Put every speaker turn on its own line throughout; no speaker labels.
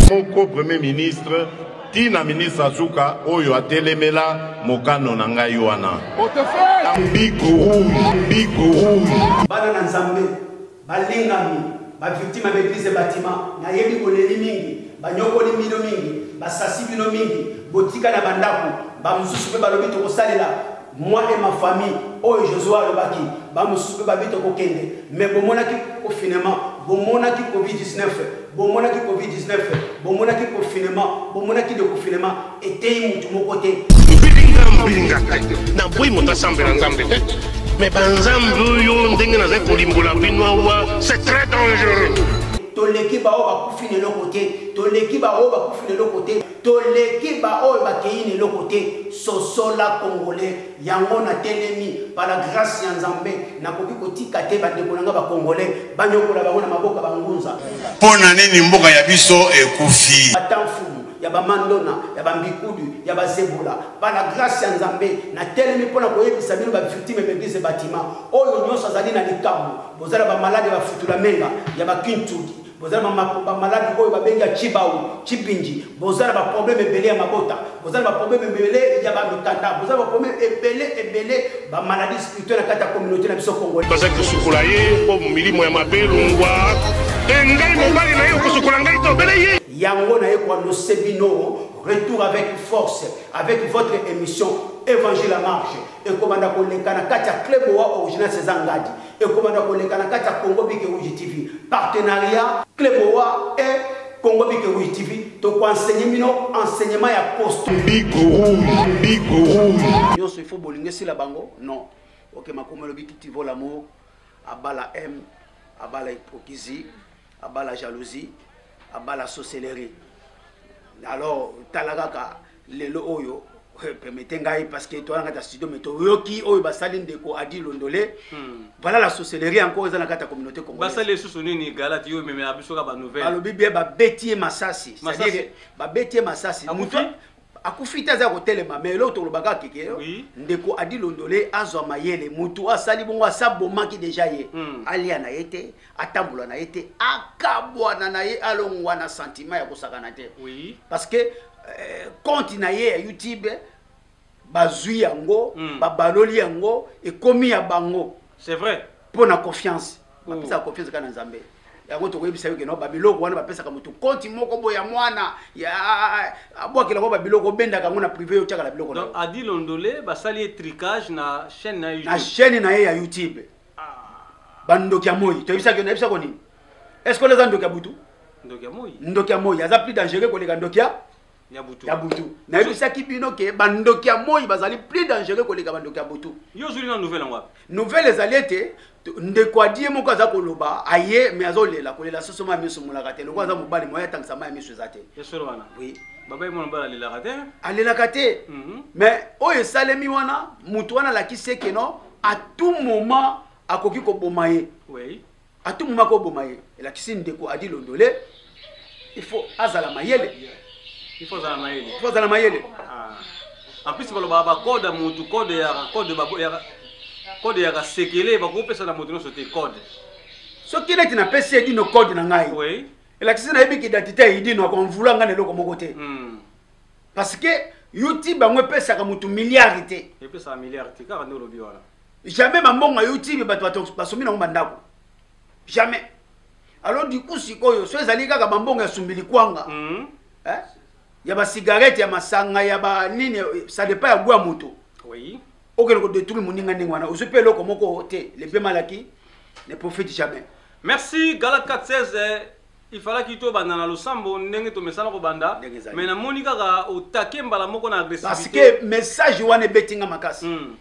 moko premier ministre ti na ministre azuka oyo atelemela mokano na ngai wana bana na
nzambe Balingami, ba victimes ya b'eglises et batiments, nayebi boleli mingi, banyokoli mbino mingi, basasi bino mingi, botika na bandaku, ba mosusu pe balobi tokosalela moi et ma famille oyo Josue alobaki, ba mosusu pe babi tokokende mais bomonaki confinement, bomonaki covid 19, bomonaki covid 19, bomonaki confinement, bomonaki deconfinement, eteyi motu moko te na boyi moto asambela
nzambe te me banzambe oyo ndenge nazali kolimbola bino awa c'est très dangereux toleki
baoyo bakufi na eloko te toleki baoyo bakufi na eloko te toleki baoyo bakei na eloko te sosola congolais yango natelemi pala grâce ya nzambe nakoki kotika te bandeko na ngai bacongolais banyokola bango na maboko ya bangunza mpo na nini
mboka ya biso ekufi ya
bamandona ya bambikudu ya bazebola mpa na grasi ya nzambe natelemi mpo na koyebisa bino baviktime ya baeglize batima oyo nyonso azali na likambo bozala bamaladi ya bafutula menga ya bakintuki boza na bamaladi oyo babengi ya cibau cipinji boza na baproblème ebele ya mabota boza na baproblème ebele ya bamikanda boza na baproblème ebele ebele bamaladi spirituel na kati ya communauté na biso congolais bazali kosukola ye
mpo milimo ya mabe longwa te ngai mobali na ye okosukola ngai te obele ye Yango na ye ko
annoncer bino retour avec force avec votre émission Evangile à marche ekobanda koleka na kati ya club wa original César Ngadi ekobanda koleka na kati ya Congo Bike Rouge TV partenariat club wa et Congo Big Rouge TV toko enseigner bino enseignement ya poste Big Rouge
Big Rouge nyonso ifo
bolingi esila bango non oke makomi olobi kiti vo lamour abala m abala hypocrisie abala jalousie abala sorcellerie alors tala kaka lelo oyo eh, permete ngai parce que toza na kati ya studio mais toyoki oyo basali ndeko adi londole hmm. voilà la sorcellerie encore eza na kati ya communauté congolesebasali lisusu nini galati
yo ememela biso kaka banouvelle balobi bie babeti
ye masasi cestadire babeti ye masasi akufi te aza kotelema mais eloko tolobaka keke ndeko adi londole azwa mayele motu asali bongo asabomaki deja ye hmm. alia na ye te atambola na ye te akabwana na ye alongwa na santima ya kosakana te oui. parce que eh, compte na ye ya youtube bazwi yango mm. babaloli yango ekomi ya bango c'est vrai mpo
na confiance
hmm. bapesaka confiance kaka na nzambe yango tokoyebisa yo keno babiloko wana bapesaka motu konti moko boye ya mwana abwakela ngo babiloko obendaka yango na prive yo otyaka na biloko adi londole
basali ye tricage na chaîne na ye na chaîne na ye ya youtube
bandoki ya moi toyebisaki nayebisa ko nini est ce que eza ndoki ya butu ndoki ya moi aza plus dangereux koleka ndoki ya ya butu nayebisaki bino ke bandoki ya moi bazali plus dangereux koleka bandoki ya butu yo ozwili na nouvelle yango
wapi nouvelle ezali ete
ndeko adi ye moko aza koloba aye me azolela kolela soso mai miso molaka te lokola aza mobali moye atangisa mai miso eza te oui
alelaka te
mais oyo esalemi wana motu wana alakisi ekeno à tout moment akoki koboma ye oui. à
tout moment akoboma
ye elakisi ndeko adi londole il faut azala mayele il faut azala
mayele il faut azala mayele ah. en plus balobaka bacode ya motu code ya code ya code ya kasekele bakopesa na moto nyonso te code soki
neti napesi edino code na ngai oui. elakisi
nayebi
kidantite ya idino akonvula ngai na eloko moko te mm. parce que youtube yango epesaka motu milliard te epesaka milliard te kaka
nde olobi wana jamais bambongo ya
youtube bato basombi nango bandako jamais alors du coup sikoyo so ezali kaka bambongo ya sumbili kwanga mm -hmm. eh? ya basigarete ya masanga ya banini ça dépend ya gwa moto oui.
okende kodetruire
moninga ndenge wana ozwi mpe eloko moko te lepe malaki ne profite jamais merci gala
416 Il falaki to banda na losambo ndenge to mesana ko banda mais na moni kaka au taquet mbala moko na agressivité parce que message
wana ebeti nga makasi mm.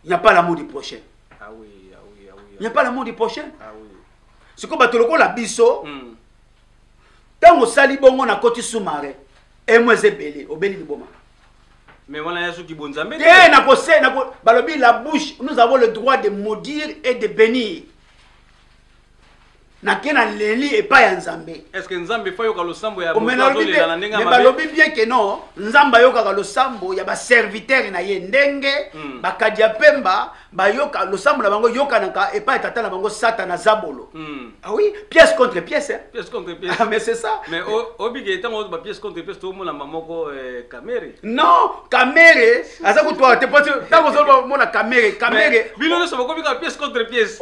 il n'y a pas l'amour du prochain ah oui ah
oui ah oui il n'y a pas
l'amour du prochain ah oui
siko bato
lokola biso ntango mm. osali bongo na koti sumare emo eza ebele obeli liboma mais
wana ya soki bonzambe te nakose
balobi la bouche nous avons le droit de maudire et de bénir nake na leli epai ya nzambe eske nzambe efa yoka
losambo ya omenaolela na ndenge balobi
bien ke non nzambe ayokaka losambo ya baservitere na ye ndenge mm. bakadi ya mpemba bayoka losambo na bango eyokanaka epai ya tata na bango satana zabolo mm. ah oui pièce contre pièce eh? pièce contre pièce ah, mais
c'est ça mais
obike
ntango ba pièce contre pièce tomonama moko eh, non
kamere aza kutuaka te po ntango ozoloba mona kamere kamere bino nyonso
bakomi kaka pièce contre pièce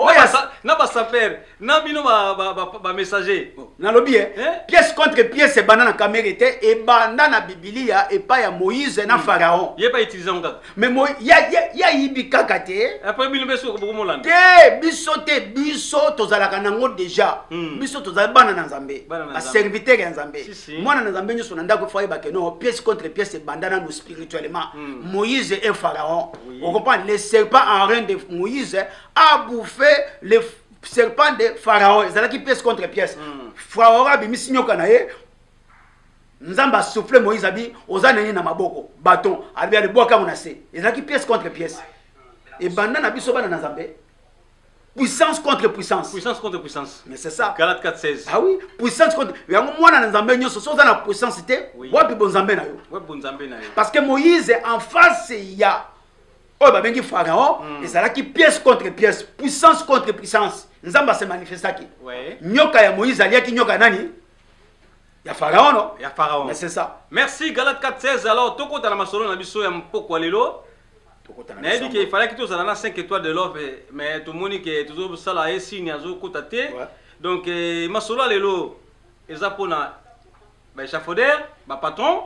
na basapere na bino bamessager nalobi ye
pièce contre pièce ebanda na kamere te ebanda na bibilia epai ya moïse na pharaon ye pa utilise yango kaka
mais mo ya
ya ya yibi kaka te après bino beso ko bokomo
landa te biso te
biso tozalaka nango déjà hmm. biso tozali bana na nzambe ba serviteur ya nzambe si, si. mwana na nzambe nyonso na ndako faye ba keno pièce contre pièce ebanda nanu spirituellement hmm. moïse et pharaon oui. on comprend les serpents en reine de moïse a bouffé les serpents de pharaon ezalaki pièce contre pièce hmm. pharaon abimisi nyoka na ye nzambe asouffle moïse abi oza nini na maboko baton abi alibwaka yango na se ezalaki pièce contre pièce ebanda na biso bana na nzambe puissance contre puissance puissance contre puissance
mais c'est ça galate 4 16
ah oui
puissance
contre yango mwana na nzambe nyonso soki oza na puissance te wapi bonzambe na yo wapi bonzambe na yo
parce que moïse
en face ya oyo babengi pharaon hmm. ezalaki pièce contre pièce puissance contre puissance nzambe asemanifestaki nyoka ya
moïse aliaki
nyoka ya nani ya faraono ya faraono c'est ça
merci
galate
416 alors tokota na masolo na biso ya mpokwa lelo nayebi ke ifalaki tozala na 5 étoile de love mais tomoni ke tozosala ye signe azokota te donc eh, masolo ya lelo eza mpona baechafaudeur bapatron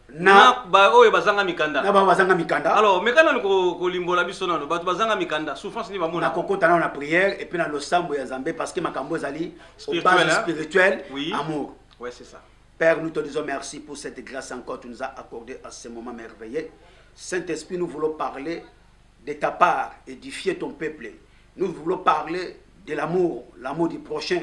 na baoyo bazanga mikanda na baoyo bazanga mikanda
alors meka nanu
kolimbola biso nano bato bazanga mikanda souffrance nini bamona nakokota nano na prière
epuis na losambo ya nzambe parce que makambo ezali obase spirituel oui. amour
ouais, c'est ça père nous te disons merci
pour cette grâce encore tu nous as accordé à ce moment merveilleux saint-esprit nous voulons parler de ta part édifier ton peuple nous voulons parler de l'amour l'amour du prochain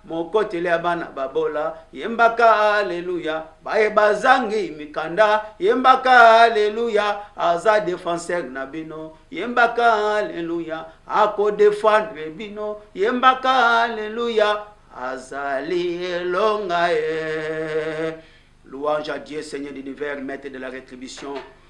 mokoteli ya bana babola yembaka aleluya baye bazangi mikanda yembaka aleluya aza defenseur na bino yembaka aleluya akodefendre bino yembaka aleluya azali elonga ye louange à dieu seigneur d'univers maître de la rétribution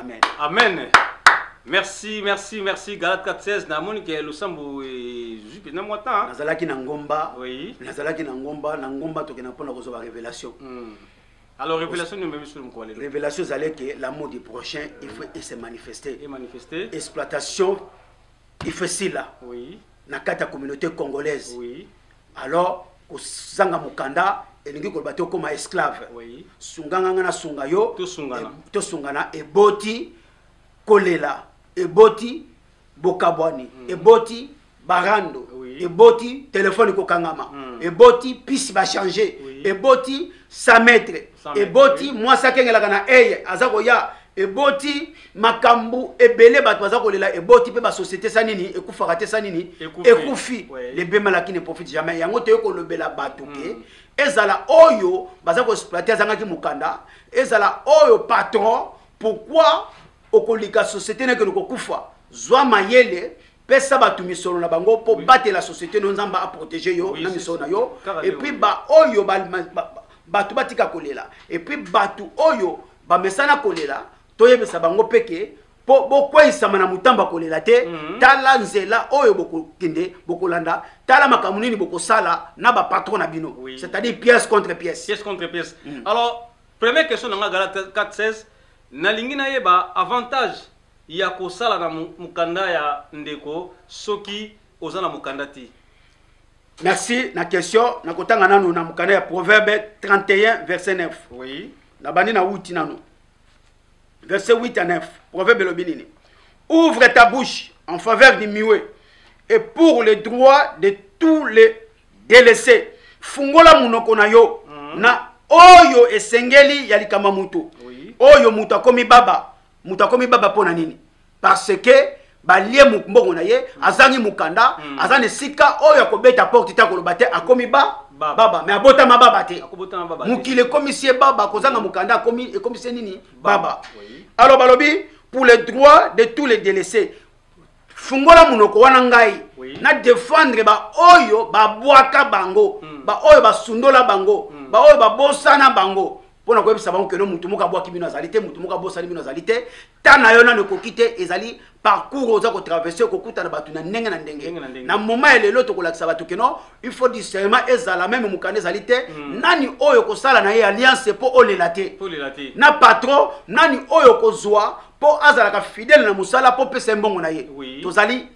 amen amen
merci merci merci galat 416 namoni ke losambo ezwi mpenza mwa temps nazalaki na ngomba
oui. nazalaki na
ngomba
na ngomba tokenda mpona kozwa ba révélation mm. alors
révélation nomemi sur mokolo lelo révélation ezali ke
l'amour du prochain il faut mm. ese manifeste et manifeste
exploitation
ifesila oui. na kati ya
communauté
congolaise oui.
alors
kozanga mokanda elingi koloba te okoma esclave oui. sunganga
nga nasunga
yo tosungana
e, eboti
kolela eboti bokabwani mm. eboti barando oui. eboti telefone kokangama mm. eboti pisi bachange oui. eboti sametre eboti mwasi akengelaka na eye aza koya eboti makambo ebele bato baza kolela eboti mpe basosiete sa nini ekufaka te sa nini ekufi lebema laki ne profite jamais yango toye kolobela bato ke hmm. ezala oyo baza koexploite azangaki mokanda ezala oyo patron pourkui okolika société nekende kokufa zwa mayele pesa bato misolo na bango mpo oui. batela société no nzambe aprotege yo oui, na misolo na yo epuis baoyo bato batika kolela epuis bato oyo bamesana kolela toyebisa bango mpe ke mpo bokweisama na motamba kolela te mm -hmm. tala nzela oyo bokokende bokolanda tala makambo nini bokosala na bapatron na bino oui. c'est-à-dire pièce contre pièce, pièce, contre pièce. Mm.
alors première question na ngai gala 416 nalingi nayeba avantage ya kosala na mukanda ya ndeko soki oza na mukanda te merci
na question nakotanga nanu na mukanda ya proverbe 31 verset 9 oui nabandi
na wuti
nanu verset 8 à 9 proverbe elobi nini ouvre ta bouche en faveur du miwe et pour le droit de tous les délaissés fungola munoko na yo mm -hmm. na oyo esengeli ya likama mutu oui. oyo mutu akomi baba moto akomi baba mpo na nini parce que balie mbongo na ye azangi mokanda mm. aza na esika oyo akobeta porte te akoloba te akomi ba baba, baba. me abotama baba te mokili ekomisi ye baba kozanga mokanda ekomisi ye nini baba, baba. Oui. alors balobi pour le droit de tous les délaissés fungola monoko wana ngai oui. na defendre baoyo babwaka bango mm. baoyo basundola bango mm. baoyo babosana bango mpo na koyebisa bango keno moto moko abwaki bino azali te moto moko abosani bino azali te ta na yo nano ekoki te ezali parcours oza kotraverse okokutana bato na ndenge na ndenge na moma ya lelo tokolakisa bato keno il faut discernement ezala meme mokanda ezali te mm. nani oyo okosala na ye alliance mpo olela te na patron nani oyo okozwa mpo azalaka fidèle na mosala mpo opesa ye mbongo na ye oui. tozali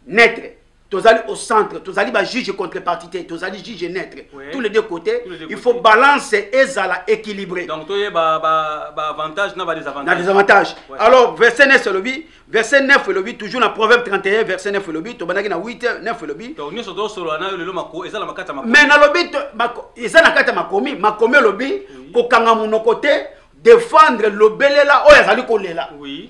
netre tozali au centre tozali bajuge contrepartie te tozali juge neutre oui. tous les deux côtés les deux il faut côtés. balance ezala équilibré donc toyeba
baavantage na badesavantage na desavantage ouais.
alors verset 9 elobi verset 9 elobi toujours na proverbe 31 verset 9 elobi tobandaki na 8 9 elobi donc nyonso tosolola nayo
lelo mako eza na makata makomi mais nalobi
eza na kati ya makomi makomi elobi kokanga monoko te defendre lobelela oyo azali kolela oui.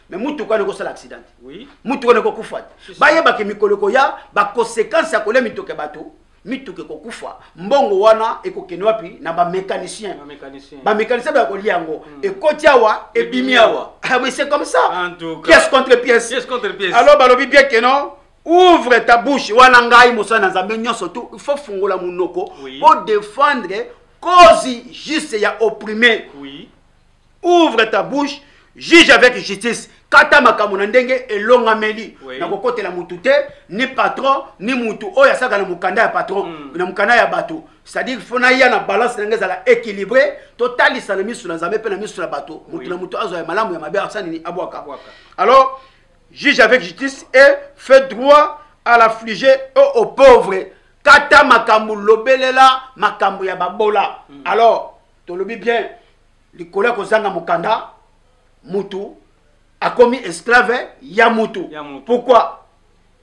me motuka wana ekosala accident te motuka wana ekokufa te bayebaki mikolo ekoya baconsequence ya kolia mitoke bato mituka ekokufa mbongo wana ekokende wapi na bamécanicien bamécanicien baya kolia yango hmm. ekoti awa ebimi awa ah, mais c'est comme ça pièce contre pièce alors balobi bien ke non ouvre ta bouche wana ngai mosala na nzambe nyonso tu il faut fungola monoko po défendre cause juste ya opprime ouvre ta bouche juge avec justice kata makambo na ndenge elongameli oui. na kokotela mutu te ni patron ni mutu oyo asaka na mokanda ya patron mm. na mokanda ya bato c'est-à-dire fo naya na balance na ngai ezala équilibré totalisa na miso na nzambe mpe na miso na bato mutu oui. na mutu azwa ya malamu ya mabe asala nini abwaka alors juge avec justice et fait droit à l'affligé au, au pauvre kata makambo lobelela makambo ya babola mm. alors tolobi bien likolo ya kozanga mokanda mutu akomi esclave ya mutu pourquoi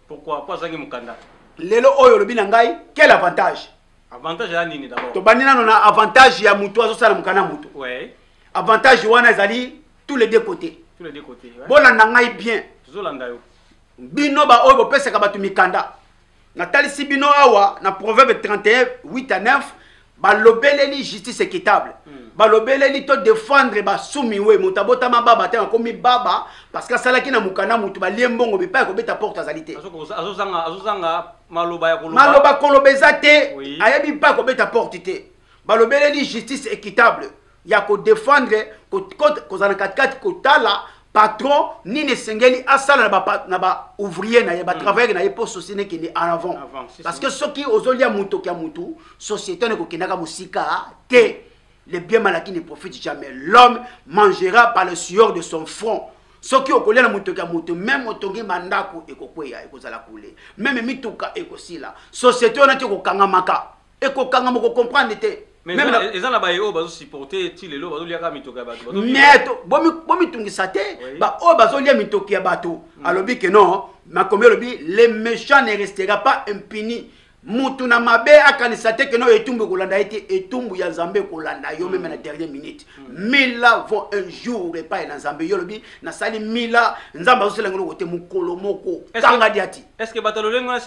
pourquoi po
azangi mokanda lelo oyo olobi
na ngai quel avantage avantage ya nini
d'abord tobandi nano na avantage
ya mutu azosala mokanda ya mutu ouais. avantage wana ezali tous les deux côtés tous les deux côtés ouais. bolanda ngai bien tozolanda yo
bino baoyo
bopesaka bato mikanda natalisi bino awa na proverbe 31 8 à 9 balobeleli justice équitable hmm. balobeleli to défendre basumiwe moto abotama baba te akomi baba parce que asalaki na mokanda motu balie mbongo bipai kobeta porte azali te
maloba koloba eza
te ayebi mpe akobeta porte te balobeleli justice équitable ya ko défendre kozala na katikati kotala patron nini esengeli asala na ba ouvrier na ye ba hmm. travailleur na ye mpo société ekende en avant parce que soki ozolia motoki ya motu société wana ekokendaka mosika te le bien malaki ne profite jamais l'homme mangera par le sueur de son front soki okolia na motoki ya moto meme otongi bandako ekokweya ekozala kule meme mituka ekosila société wana te ekokangamaka ekokanga moko comprendre te eza na baye
oyo bazosupporte ti lelo bazoliaka mitoki ya bato mais
bomitungisa te baoyo bazolia mitoki ya bato hmm. alobi ke non makomi alobi le méchant ne restera pas impuni mutu na mabe akanisa te ke non etumbu ekolanda ye te etumbu ya nzambe ekolanda yo meme hmm. na dernier minute mila vont un jour epai na nzambe yo olobi nasali mila nzambe azosela ngeloko te mokolo moko kanga diati estce bato lolenge wana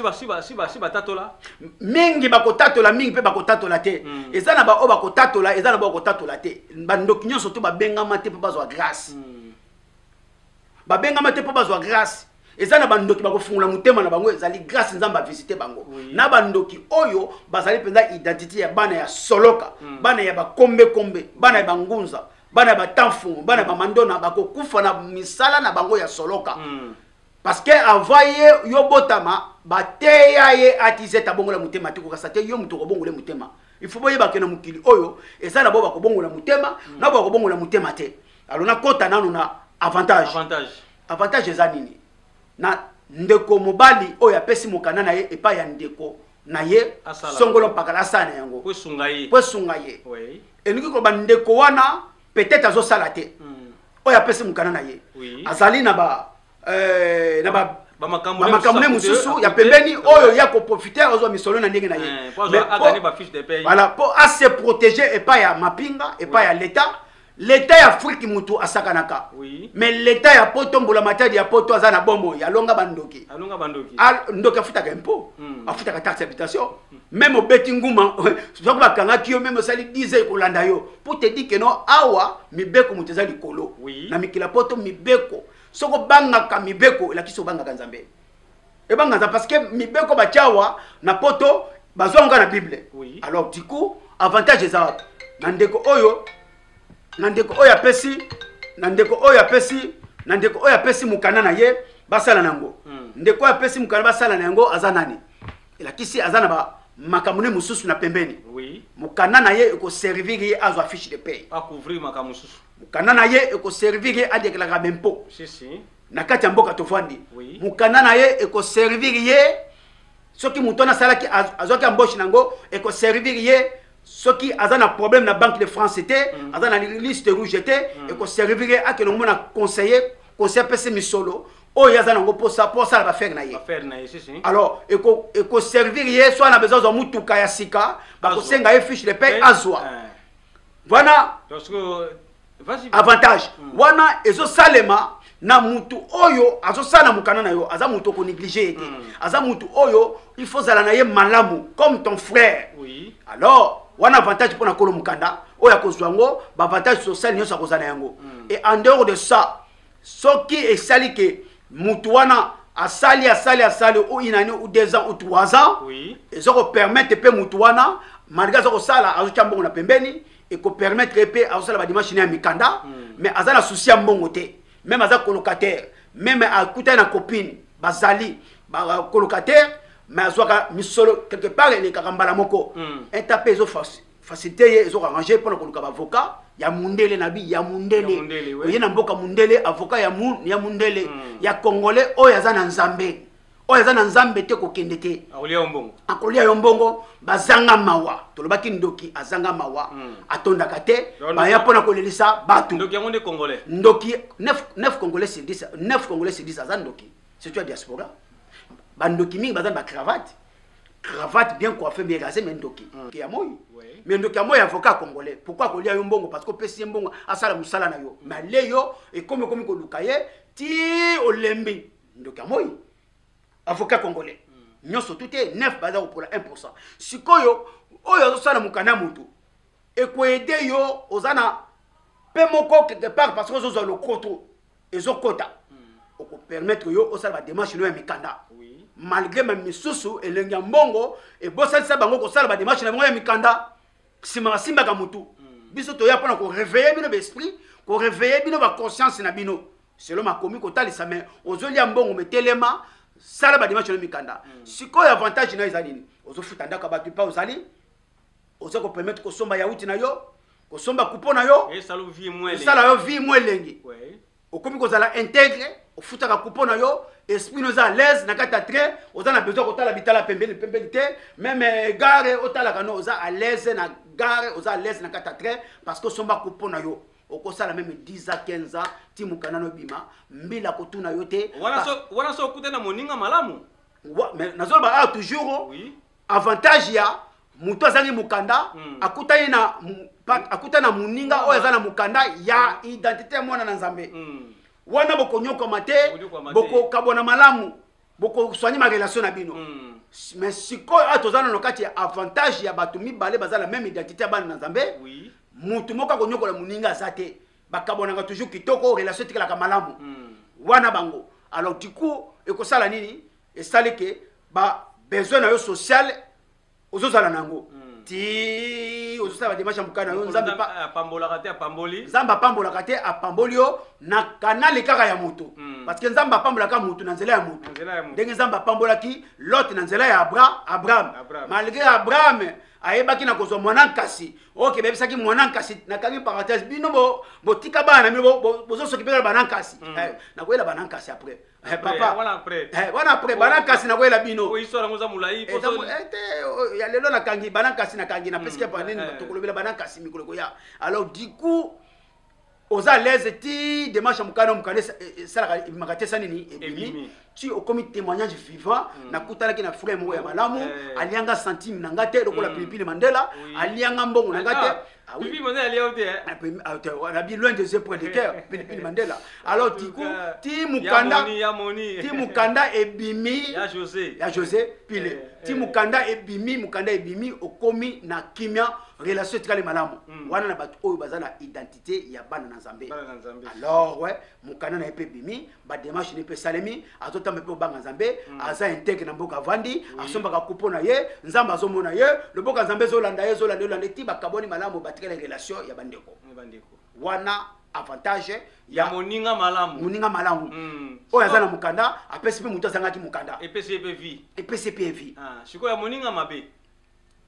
si batatola mingi
bakotatola mingi mpe bakotatola te hmm. eza na baoyo bakotatola eza na baoyo bakotatola te bandoki nyonso to babengama te mpo bazwa grâce hmm. babengama te mpo bazwa grâce eza na bandoki bakofungola motema na bango ezali grâce nzambe avisite bango oui. na bandoki oyo bazali mpenza identité ya bana ya soloka mm. bana ya bakombekombe bana ya bangunza bana ya batanfumu bana ya bamandona bakokufa na misala na bango ya soloka mm. parce que avant ye yo botama bateya ye atizete abongola motema te kokasa te yo moto okobongola motema il faut boyebake na mokili oyo eza na bo bakobongola motema mm. na bakobongola motema te alo nakota nano na avantage, avantage. avantage eza nini na ndeko mobali oyo apesi mokanda na ye epai ya ndeko na ye songolo mpakala asala na yango po esunga ye elingi koloba ndeko wana peut-être azosala te hmm. oyo apesi mokanda na ye azali na ba euh, na ba bamakambo ne mosusu ya pembeni oyo ya koprofite ozwa misolo na ndenge na ye eh, voilà mpo ase protege epai ya mapinga epai ya leta leta ya afriki motu asakanaka oui. me leta ya poto mbulamatadi ya poto aza na bomoi alonga bandoki ndoki afutaka impo mm. afutaka taxe habitation mm. meme obeti nguma soki bakangaki yo meme osali 10 ans ekolanda yo po te di ke no awa mibeko moto eza likolo oui. na mikila poto mibeko soki obangaka mibeko elakisi obangaka nzambe ebanga nzambe parce que mibeko batyawa na poto bazwa yango na bible oui. alors du coup avantage eza wapi na ndeko oyo na ndeko oyo apesi na ndeko oyo apesi na ndeko oyo apesi mokanda na ye basala na yango mm. ndeko oyo apesi mokanda basala na yango aza nani elakisi aza na ba makambo ne mosusu na pembeni oui. mokanda na ye ekoservir ye azwa fiche de pay akouvrir makambo mosusu
mokanda na ye
ekoservir ye adekelaka bempo si, si. na kati ya mboka tofandi oui. mokanda na ye ekoservir ye soki moto wana asalaki azwaki amboche na yango ekoservir ye soki aza na problème na banque de france te mm. aza na liste rouge te mm. ekoservir ye akende komona conseiller conseil apesi misolo oyo aza nango mposa mpo asala bafere na ye alors ekoservir ye so ana besoin azwa motuka ya sika bakosenga ye fiche de paye azwa eh. wana avantage hmm. wana ezosalema na mutu oyo azosala na mokanda na yo aza mutu okoneglige ye te hmm. aza mutu oyo il faut ozala na ye malamu comme ton frère oui. alors wana avantage mpo na kolo mokanda oyo akozwa yango baavantage social nyonso akozala na yango hmm. et en dehors de ça soki esali ke mutu wana asali asali asali ou une année ou deux ans ou trois ans oui. ezokopermettre mpe mutu wana malgré azokosala azotya mbongo na pembeni eko permettre ye mpe azosala badimanche ne ya mikanda mm. mais aza na souci ya mbongo te meme aza colocataire meme akutani na copine bazali colocataire mais azwaka misolo quelque part elekaka mbala moko mm. eta mpe ezo facilité ye ezo arrange mpo na koluka bavocat ya mundele na bi ya mundele oye na mboka mundele avocat ya, mu, ya mundele mm. ya congolais oyo aza na nzambe oyo aza na nzambe te kokende te akolia yo mbongo bazanga mawa tolobaki ndoki azanga mawa hmm. atondaka te baya mpo na kolelisa bato ndoki 9 congolais sur 10 9 congolais sur 10 aza ndoki surtout ya diaspora bandoki mingi baza na bacravate cravate bien coiffe bien rase me ndoki hmm. ya moi me ndoki ya moi avocat congolais pourkui akolia yo mbongo parce que opesi ye mbongo asala mosala na yo me ale yo ekomi ekomi koluka ye ti olembi ndoki ya moi avocat congolais hmm. nyonso tu te nef baza kopola 1 pourcent sikoyo oyo azosala mokanda motu ekoede yo oza na mpe moko quelque part parce que ozozwa lokoto ezokota hmm. okopermettre yo osala bademarche no ya mikanda malgré ma misusu elengi ya mbongo ebosanisa bango kosala bademarche na bango ya mikanda nsima basimbaka motu hmm. biso toya mpona koreveille bino baesprit koreveille bino baconscience na bino selon makomi kotalisa me ozolia mbongo metelema sala badimashe na mikanda mm. sikoyo avantage na eza nini ozofuta ndako ya bato mpa ozali oza kopermettre kosomba yauti na yo kosomba kupo na yo esala
yo vie mo
elengi okomi kozala integre ofutaka kupo na yo esprit no eza alaise na kati ya train oza na besoin kotala bitala pembeni pembeni te meme eh, gare otalaka no oza alaise na gare oza alaise na kati ya train parce que osomba kupo na yo okosala meme 10 ans 15 ans ti mokanda no ebima mbila kotuna yo te wana so okuta
na moninga malamu nazoloba
awa toujours oui. avantage ya moto azangi mokanda mm. akutani na akuta na moninga oyo aza na mokanda ya hmm. identité ya mwana na nzambe mm. wana bokonyokwama te bokokabwana malamu bokosoigne barelation na bino mm. mais sikoyo awa toza nano kati ya avantage ya bato mibale baza na meme identité ya bana na nzambe oui. motu moko akonyokola moninga aza te bakabwanaka toujours kitoko relation etikalaka malamu mm. wana bango alors du coup ekosala nini esali ke ba besoin na yo sociale ozozala na yango hmm. ti ozosala bademarshe ya mokana yo nzambe apambolaka te apamboli
nzambe apambolaka te
apamboli yo na kanale kaka ya moto hmm. parce que nzambe apambolaka moto na nzela ya moto ndenge nzambe apambolaki lot na nzela ya abra abraham malgré abraham ayebaki na kozwa mwana nkasi oke bayebisaki mwana nkasi nakangi parenthèse bino botika bana na bino bozosoki mpe na bana nkasi hmm. eh, nakoyela bana nkasi après Eh, papa wana après eh, wana après bana kasi na koyela bino oyo histoire yango eza molai
eh, te
oh, ya lelo nakangi bana kasi nakangi na pesike pa nini tokolobela bana kasi mikolo ekoya alors du coup oza à l'aise ti démarche ya mokano mokano esalaka ebimaka te esa nini ebimi ti okomi témoignage vivant hmm. nakutanaki na frère moko ya malamu alianga centime na nga te lokola hmm. pilipili mandela alianga mbongo na nga te Ah oui. Pilipili Mandela alia yo
te eh? Ah, pili- ah, te- wana bi loin des
yeux près du cœur pilipili mandela alors du coup ti mukanda Ya moni, ya moni. ti mukanda ebimi Ya José. ya josé pile Eh, ti eh. mukanda ebimi mukanda ebimi okomi na kimia relation etikali malamu Mm. wana na bato oyo baza na identité ya bana na nzambe Bana na Nzambe. alors ouais mukanda na ye mpe ebimi bademarche nini mpe esalemi azotamba mpe obanga nzambe mm. aza intègre na mboka avandi asombaka kupo na ye nzambe azomona ye loboka nzambe ezolanda ye ezolanda yolanda ti bakabwani malamu batikala relation ya bandeko wana avantage ya moninga
malamu moninga malamu mm.
oyo aza na mokanda apesi mpe moto azangaki mokanda epesi mpe vie
epesi mpe
vie ah, sikoyo ya moninga
mabe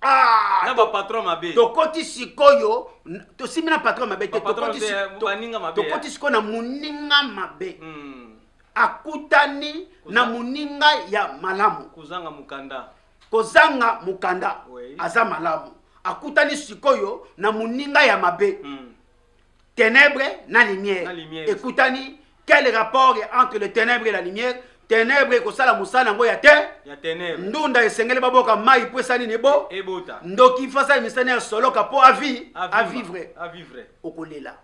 Ah, na bapatron mabe tokoti sikoyo
tosimbi na patron mabe te tokoti sikoyo na moninga mabe hmm. akutani na moninga ya malamu
kozanga
mokanda kozanga mokanda aza malamu akutani sikoyo na moninga ya mabe hmm. Ténèbres na lumière. Na lumière. Ekutani quel rapport est entre le ténèbre et la lumière? Ténèbre ekosala mosala yango ya te. Ya ténèbre. Ndunda esengeli baboka mai mpo esali nini ebo. Ebota. Ndoki mpo asali misani ya soloka mpo avi. A vivre. A vivre. Okolela.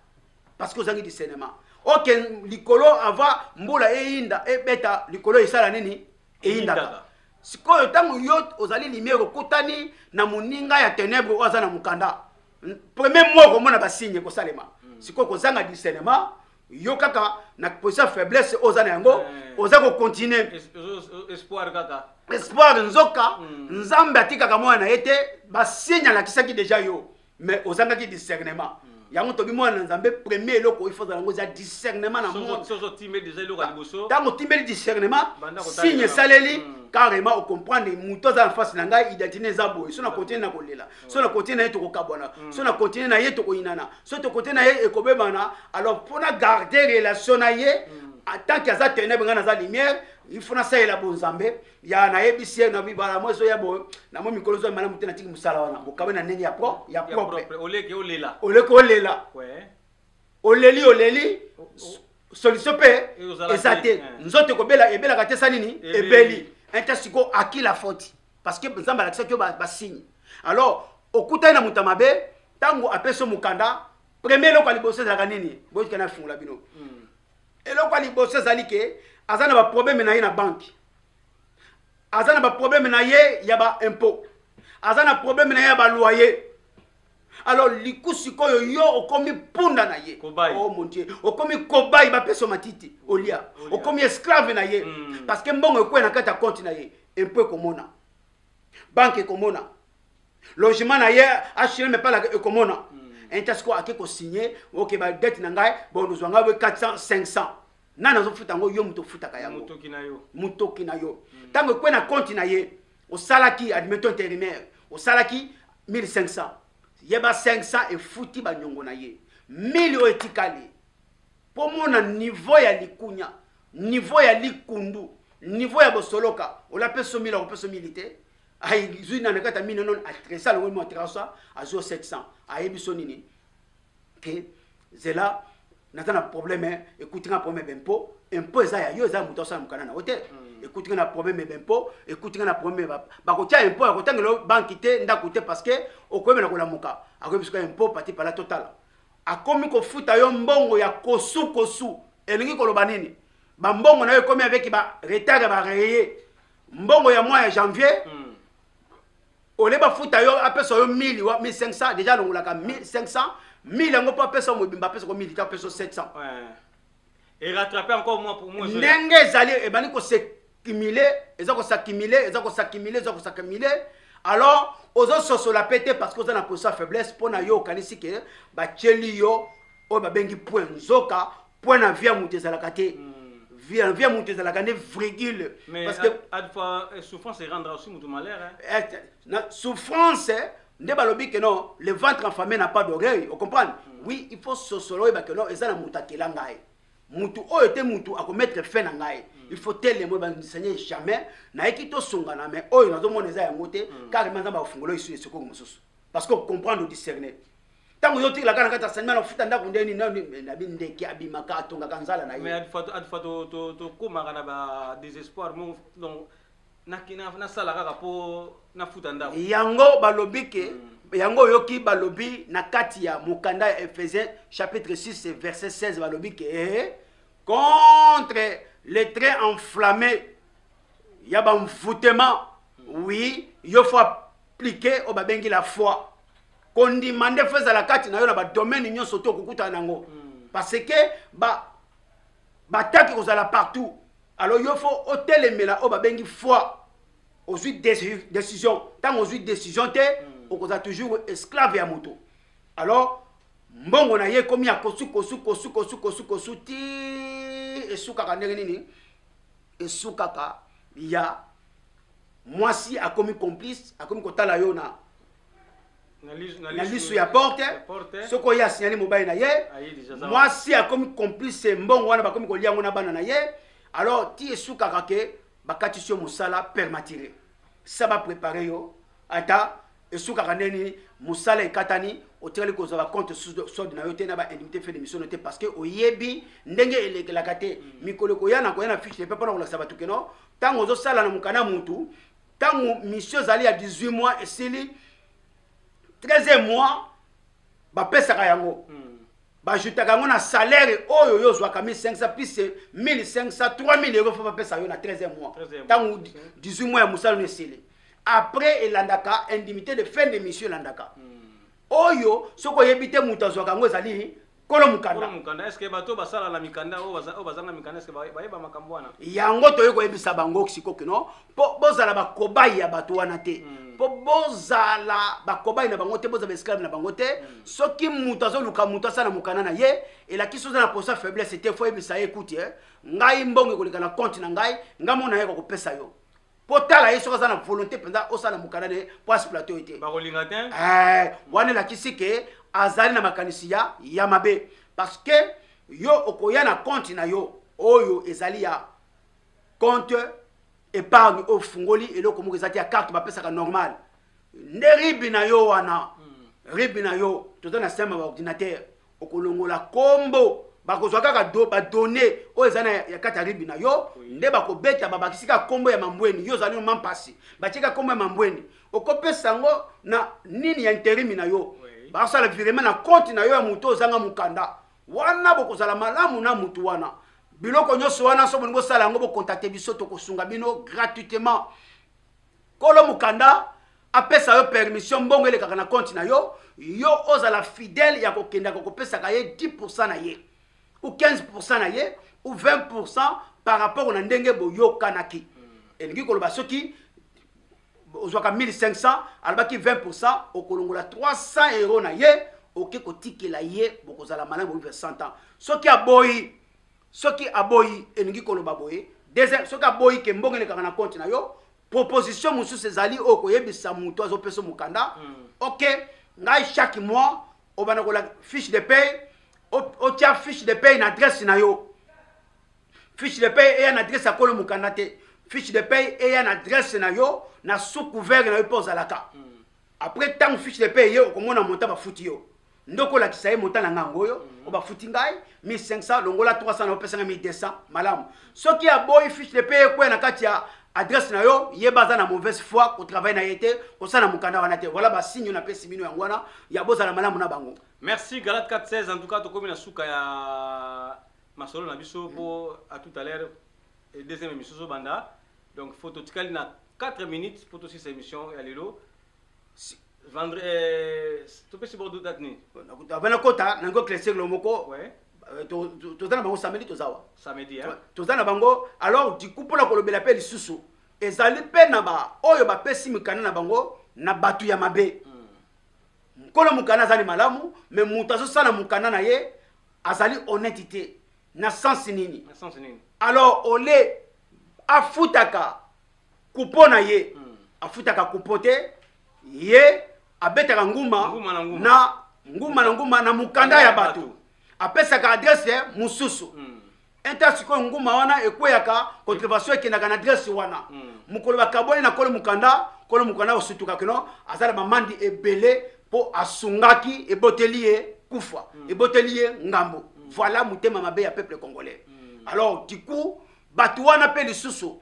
Parce que ozangi discernement. Ok, likolo ava mbula eyinda ebeta likolo esala nini? Eyindaka. sikoyo ntango yo ozali limia okutani na moninga ya tenebre oyo aza na mokanda premier mois okomona basigne ekosalema mm. sikoyo kozanga discernement yo kaka na position faiblesse oza na yango eh. oza kocontinue espoir kaka espoir nzoka mm. nzambe atikaka mwana na ye te basigne alakisaki deja yo mais ozangaki discernement mm. yango tobi mwana na nzambe premier eloko il faut ozala yango eza discernement na mondentango otimbeli discernement signe esaleli carrément ocomprendre moto aza na face na ngai identité eza boye so na continue na kolela so na continue na ye tokokabwana mm. so na continue na ye tokoyinana so tokote na ye ekobebana alors mpo na garde relation na ye mm. atanke aza tenebre ngai naza lumière il faut nasalela bonzambe ya nayebisi ye nabibala mwa ezoya boye namoi mikolo ezoya malamu te natiki mosala wana bokabe na ndenge ya pro ya propre oleki olela oleki olela oleli oleli solution mpe eza te eh. nzoto ekobela ebelaka te esa nini ebeli inta sikoyo aki la faute parce que nzambe alakisaki yo basigne ba alors okutani na moto ya mabe ntango apesi yo mokanda premier eloko ya liboso ezalaka nini boyikana afungola bino hmm. eloko ya liboso ezali ke aza na baprobleme na ye na banke aza na baprobleme na ye ya baimpot aza na probleme na ye ya baloyer alors liku sikoyo yo okomi punda na ye kobai. oh mon dieu okomi kobai bapesa matiti olia okomi esclave na ye mm. parce que mbongo ekwei na kati ya konti na ye empo ekomona banke ekomona logement na ye hm epalaka ekomona mm. enta sikoyo ake kosigne oke badete na ngai bonozwa ngai we 400 500 nani azofuta yango yo moto ofutaka yango motoki na yo ntango mm. ekwei na konti na ye osalaki admettons intérimaire osalaki 1500 ye ba 500 efuti banyongo na ye 1000 oyo etikali mpo omona niveau ya likunya niveau ya likundu niveau ya bosoloka olapesa omili akopesa omili te azwi na nakati ya mino non atresa longo mo atrasa azwi 700 ayebi so nini ke zela naza na problème ekuti nga problème ya bempo impo eza ya yo eza ya moto asala mokanda na yo te hmm. ekuti nga na problème ya bempo ekuti nga na problème bakotya impo ya kotangela yo banki te ndako te parce que okoyebela kolamuka akoyebi soki impo pati pala totala akomi kofuta yo mbongo ya kosukosu elingi koloba nini bambongo na yo ekomi avec ba retard ya bareye mbongo ya mwa ya janvier mm. ole bafuta yo apesa yo 1000 wa 1500 deja alongolaka 1500 1000 yango mpo apesa mobimba apesa ko 1000 te apesa 700
erattrape encore moi pour moi ndenge ezali
ebandi kosekimile eza kosakimile eza kosakimile eza kosakimile alors ozososola mpe te parce que oza na posa faiblesse mpo na yo okanisi ke batyeli yo oyo babengi point nzoka point na vie ya moto ezalaka te vie vie ya moto ezalaka nde virgule parce que
adfa eh, souffrance erendra aussi moto malheur hein? eh, na
souffrance eh, nde balobi que non le ventre enfamé n'a pas d'oreille au comprendre mm. oui il faut sosolo oyeba que non eza na moto akela ngai motu oyo te motu akomettre fin na ngai mm. il faut telemo ebandisanye jamais nayeki tosongana mais oyo nazomona eza yango te mm. car ma nzambe akofungola esu esokoko mosusu parce que ocomprendre odiscerne ntango yo otikelaka na kati ya sanima na kofuta ndako nde nini na bindeke abimaka atongaka nzala na ye adfa
tokomaka na badésespoir moko donc nasala kaka mpo nafuta ndako yango balobi
ke mm. yango oyoki balobi na kati ya mokanda ya ephésien chapitre 6 verset 16 balobi ke eh, contre le trait enflammé ya bamvutema mm. oui yo fo aplike oyo babengi la foi kondima nde fo ezala kati na yo na badomaine nyonso to okokutana na yango hmm. parce que bataki kozala partout alors yo fo otelemela oyo babengi foi ozwi décision ntango ozwi décision te hmm. okozala toujours esclave ya moto alors mbongo na ye ekomi ya kosukosukosukosukosukosu ti esukaka ndenge nini esukaka ya mwasi akomi complice akomi kotala yo na na lisu ya porte soki oye asignali mobali na ye mwasi akomi complice mbongo wana bakomi kolia yango na bana na ye alors ti esukaka ke bakatisi yo mosala permatire sa baprepare yo ata esukaka ndeni mosala ekatani otikali kozwa bacompte sod na yo te na baindemnité fe de misiono te parce que oyebi ndenge elekelaka te mm. mikolo ekoya na koya na fiche de pe mpona kolakisa bato keno ntango ozosala na mokana mutu ntango mission ezali ya 18 mois esili 13 mois bapesaka yango mm. bajutaka yango na salaire oyo yo ozwaka 1500 plus 1500 3000 euro fo bapesa yo na 13 mois ntango 18 mois ya mosala no esili après elandaka indimité de fin de mission elandaka mm. oyo soki oyebi te moto azwaka yango ezali kolo mokanda mokanda est ce que bato basala
na mikanda oyo bazanga mikanda est ce que bayeba makambo wana yango toyei koyebisa
bango sikoyo kino mpo bozala bakobai ya bato wana te mpo hmm. bozala bakobai na bango te bozala baesclave na bango te hmm. soki moto azoluka moto asala mokanda na ye elakisi oza na posa faiblesse te fo oyebisa ye ekuti eh, ngai mbongo ekoleka na konte na ngai ngai mona ye kokopesa yo kotala ye soki aza na volonté mpenza osala mokanda na ye mpo asiplate oyo te bakolinga te
eh, wana elakisi
ke azali na makanisi ya ya mabe parce que yo okoya na compte na yo oyo ezali ya compte épargne oyo ofungoli eloko moko eza te ya carte bapesaka normal nde ribi na yo wana hmm. ribi na yo toza na système ya ordinateur okolongola kombo bakozwa kaka do badone oyo eza na ya kati ya ribi na yo nde bakobeta babakisi kaka kombo ya mambweni yo ozali noma mpasi batie kaka kombo ya mambweni okopesa yango na nini ya interimi na yo basala virema na konti na yo ya moto ozanga mokanda wana bokozala malamu na motu wana biloko nyonso wana so bolingi bosala yango bokontakte biso tokosunga bino gratuitement kolo mokanda apesa yo permission mbongo elekaka na konti na yo yo ozala fidèle ya kokendaka kopesaka ye 10 na ye ou 15 na ye ou 20 par rapport na ndenge boyokanaki hmm. elingi koloba soki ozwaka 1500 alobaki 20 okolongola 300 euro na ye oke kotikela ye bokozala malamu boyuka 100 ans soki aboyi soki aboyi elingi koloba boye deuxième soki aboyi ke mbongo elekaka na compte na yo proposition mosusu ezali oyo koyebisa moto azopesa mokanda mm. ok ngai chaque mois obanda kola fiche de paye otya fiche de paye na adresse na yo fiche de paye eya na adresse ya kolo mokanda te fiche de paye eya na adresse na yo na sous couvert na yo mpe ozalaka mm. après ntango fiche de paye eye okomona monta bafuti yo ndoko olakisa ye mota na ngai yango oyo mhm. oyo bafuti ngai 1500 longola 300 na opesa ngai 1200 malamu soki aboyi fiche de paye ekwea na kati ya adresse na yo yeba aza na mauvaise foi kotravaille na ye te kosala mokanda wana te voilà basigne napesi bino yango wana ya bozala malamu na bango merci galat 416
en tout cas tokomi na suka ya masolo na biso mhm. mpo à tout à l'heure eh, deuxième émission ezobanda donc faut totikali na 4 minutes mpo tosisa émission ya lelo Vendre, euh, topesi bordeaux date nini avana kota
nango cleseglo moko euh,
toza na
bango samedi toza wa samedi toza
na bango
alors diku mpona kolobela mpe lisusu ezali mpe na baoyo bapesi mikanda na bango na bato ya mabe hmm. nkolo mokanda azali malamu me moto azosala mokanda na ye azali honnête te na sense nini alors ole afutaka kupo na ye hmm. afutaka kupo te ye abetaka nguma na nguma na nguma na mokanda ya bato apesaka adrese mosusu hmm. inter sikoyo nguma wana ekweyaka contrevation ekendaka na adrese wana hmm. mokolo bakabwani na kolo mokanda kolo mokanda osutuka kino aza na bamandi ebele mpo asungaki eboteli ye kufa hmm. eboteli ye ngambo voilà motema mabe ya peuple congolais alors du coup bato wana mpe lisusu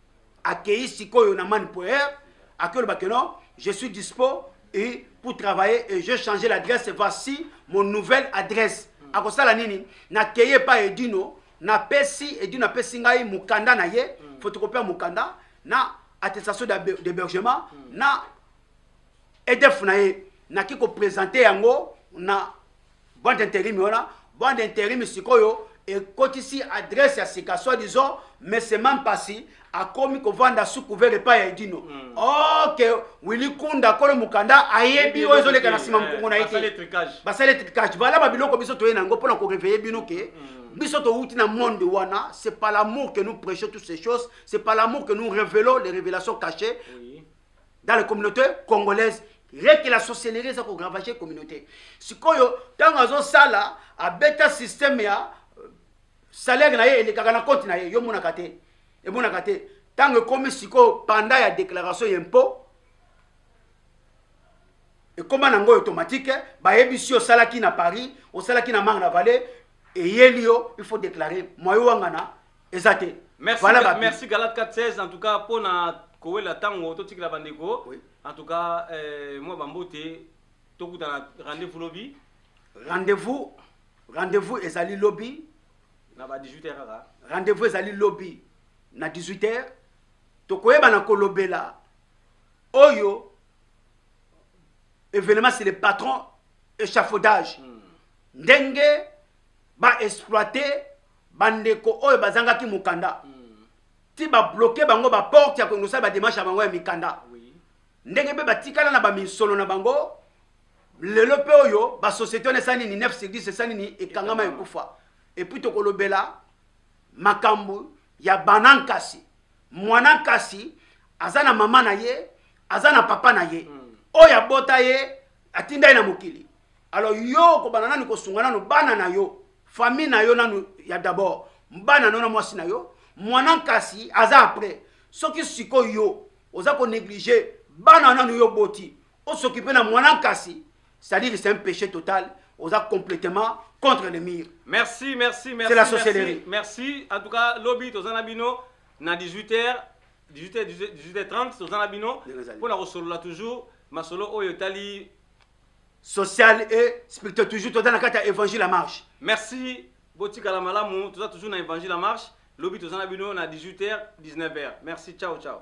akeyi sikoyo na man poer akeoloba que non je suis dispo et pour travailler et je change l'adresse voici mon nouvelle adresse akosala nini nakei epai edino napesi edino apesi ngai mokanda na ye mm. photocopie ya mokanda na attestation d'hébergement mm. na edef na ye naki kopresente yango na Bande interim wana, bande interim sikoyo ekotisi adresse ya sika soit disant mesema mpasi akomi kovanda sous couvert epai ya edino mm. oke oh, wili kunda kolo mokanda ayebi oyo ezoleka na nsima mokongo na ye te basali etricage vala babiloko biso toye na yango mpo na koreveille bino ke mm. biso towuti na monde wana c'est pas l'amour que nous prêchons toutes ces choses c'est pas l'amour que nous révélons les révélations cachées oui. dans la communauté congolaise rien que la sorcellerie eza koravage communauté sikoyo ntango azosala abeta système ya euh, salaire na ye elekaka na compte na ye yo monaka te emonaka te ntango ekomi sikoyo panda ya déclaration ya impôt ekoma na yango automatique bayebisi yo osalaki na paris osalaki na marne vallée eyeli yo il faut déclare moyo wangana eza te merci, voilà ga,
merci galat 416 en tout cas mpo na kowela ntango totikela bandeko oui. en tout cas eh, mwa bambote tokutana rendez-vous lobi rendez-vous rendez-vous ezali lobi na ba 18 heures kaka rendez-vous ezali
lobi na 18 heures tokoyebana kolobela oyo événement c'est le patron échafaudage hmm. ndenge ba exploiter bandeko oyo bazangaki mokanda hmm. ti babloke bango baporte ya kongosala bademarshe ya bango ya mikanda ndenge mpe batikala na baminsolo na bango lelo mpe oyo basociété wana esali nini 9 sur 10 esali nini ekangama ekufa epuis tokolobela makambo ya bana nkasi mwana nkasi aza na mama na ye aza na papa na ye hmm. oyo abota ye atinda ye na mokili Alors yo okobana nanu kosunga nanu bana na yo famille na yo nanu ya d'abord bana na yo na mwasi na yo mwana nkasi aza après soki sikoyo yo oza konéglige bana nanu yo oboti osokipe na mwana nkasi c'est-à-dire c'est un péché total oza complètement contre le mur merci merci merci c'est
la sorcellerie
merci en tout cas
lobi toza na bino na 18h 18h 18h30 toza na bino mpo na kosolola toujours masolo oyo etali social
et spirituel toujours toza na kati ya évangile ya marche merci
botikala malamu toza toujours na évangile ya marche lobi toza na bino na 18 h 19 h merci ciao ciao